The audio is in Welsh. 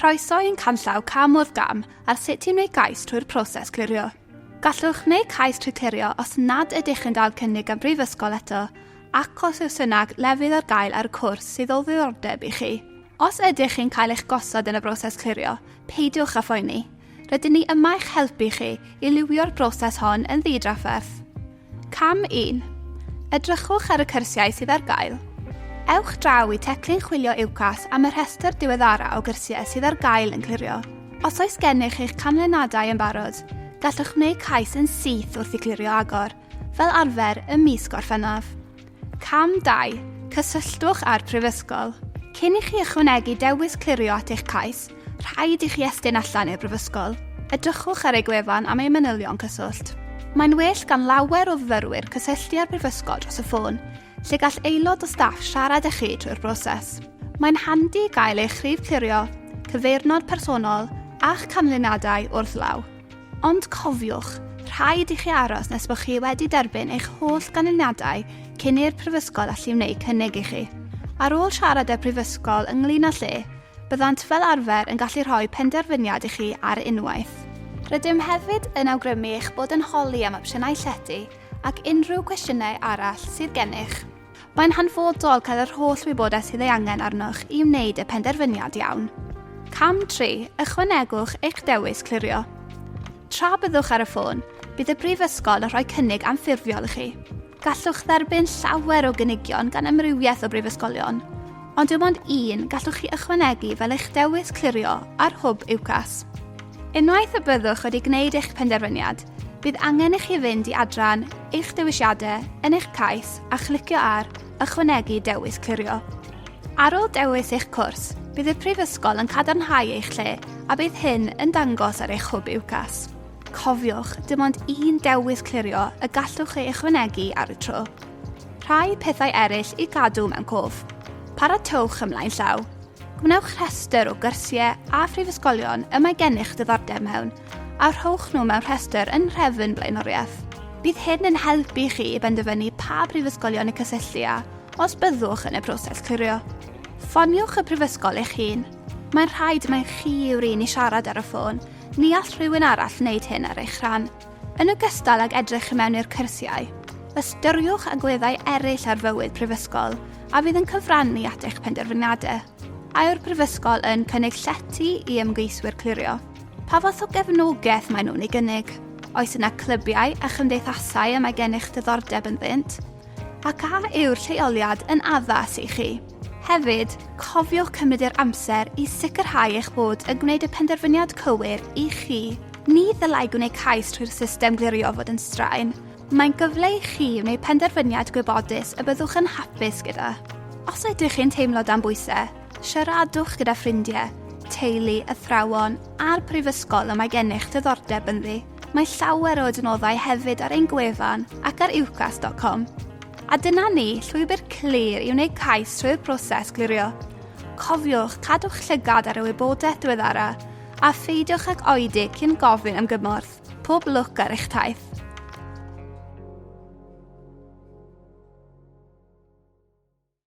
Croeso i'n canllaw cam wrth gam ar sut ti'n gwneud gais trwy'r proses clirio. Gallwch wneud cais trwy clirio os nad ydych chi'n dal cynnig am brifysgol eto ac os yw'r synag lefydd ar gael ar y cwrs sydd o ddiddordeb i chi. Os ydych chi'n cael eich gosod yn y broses clirio, peidiwch â phoeni. Rydyn ni yma i'ch helpu chi i liwio'r broses hon yn ddi-drafferth. Cam 1. Edrychwch ar y cyrsiau sydd ar gael. Ewch draw i Teclyn Chwilio UCAS am y rhestr diweddara o gyrsiau sydd ar gael yn clirio. Os oes gennych eich canlynadau yn barod, gallwch wneud cais yn syth wrth i clirio agor, fel arfer ym mis Gorffennaf. Cam 2, Cysylltwch â'r Prifysgol. Cyn i chi ychwanegu dewis clirio at eich cais, rhaid i chi estyn allan i'r Brifysgol. Edrychwch ar ei gwefan am ei manylion cyswllt. Mae'n well gan lawer o fyfyrwyr cysylltu â'r Brifysgol dros y ffôn, lle gall aelod o staff siarad â chi drwy'r broses. Mae'n handi gael eich rhif clirio, cyfeirnod personol a'ch canlyniadau wrth law. Ond cofiwch, rhaid i chi aros nes bod chi wedi derbyn eich holl ganlyniadau cyn i'r Prifysgol allu wneud cynnig i chi. Ar ôl siarad â'r Prifysgol ynglŷn â lle, byddant fel arfer yn gallu rhoi penderfyniad i chi ar unwaith. Rydym hefyd yn awgrymu eich bod yn holi am opsiynau llety ac unrhyw gwestiynau arall sydd gennych. Mae'n hanfodol cael yr holl wybodaeth sydd ei angen arnoch i wneud y penderfyniad iawn. Cam 3, ychwanegwch eich dewis clirio. Tra byddwch ar y ffôn, bydd y Brifysgol yn rhoi cynnig anffurfiol i chi. Gallwch dderbyn llawer o gynigion gan amrywiaeth o brifysgolion, ond dim ond un gallwch chi ychwanegu fel eich dewis clirio ar Hwb UCAS. Unwaith y byddwch wedi gwneud eich penderfyniad, bydd angen i chi fynd i adran eich dewisiadau yn eich cais a chlicio ar Ychwanegu Dewis Clirio. Ar ôl dewis eich cwrs, bydd y Prifysgol yn cadarnhau eich lle a bydd hyn yn dangos ar eich hwb UCAS. Cofiwch, dim ond un dewis clirio y gallwch ei ychwanegu ar y tro. Rhai pethau eraill i gadw mewn cof. Paratowch ymlaen llaw. Gwnewch rhestr o gyrsiau a phrifysgolion y mae gennych ddiddordeb mewn, a rhowch nhw mewn rhestr yn nhrefn blaenoriaeth. Bydd hyn yn helpu chi i benderfynu pa brifysgolion i cysylltu â os byddwch yn y proses clirio. Ffoniwch y prifysgol eich hun. Mae'n rhaid mai chi yw'r un i siarad ar y ffôn, ni all rhywun arall wneud hyn ar eich rhan. Yn ogystal ag edrych i mewn i'r cyrsiau, ystyriwch agweddau eraill ar fywyd prifysgol a fydd yn cyfrannu at eich penderfyniadau. A yw'r prifysgol yn cynnig llety i ymgeiswyr clirio? Pa fath o gefnogaeth maen nhw'n ei gynnig? Oes yna clybiau a chymdeithasau y mae gennych ddiddordeb ynddynt? Ac a yw'r lleoliad yn addas i chi? Hefyd, cofiwch cymryd yr amser i sicrhau eich bod yn gwneud y penderfyniad cywir i chi. Ni ddylai gwneud cais trwy'r system glirio fod yn straen. Mae'n gyfle i chi wneud penderfyniad gwybodus y byddwch yn hapus gyda. Os ydych chi'n teimlo dan bwysau, siaradwch gyda ffrindiau, teulu, athrawon a'r prifysgol y mae gennych ddiddordeb ynddi. Mae llawer o adnoddau hefyd ar ein gwefan ac ar ucas.com. A dyna ni, llwybr clir i wneud cais trwy'r broses glirio. Cofiwch cadw'ch llygad ar y wybodaeth diweddara a pheidiwch ag oedi cyn gofyn am gymorth. Pob lwc ar eich taith!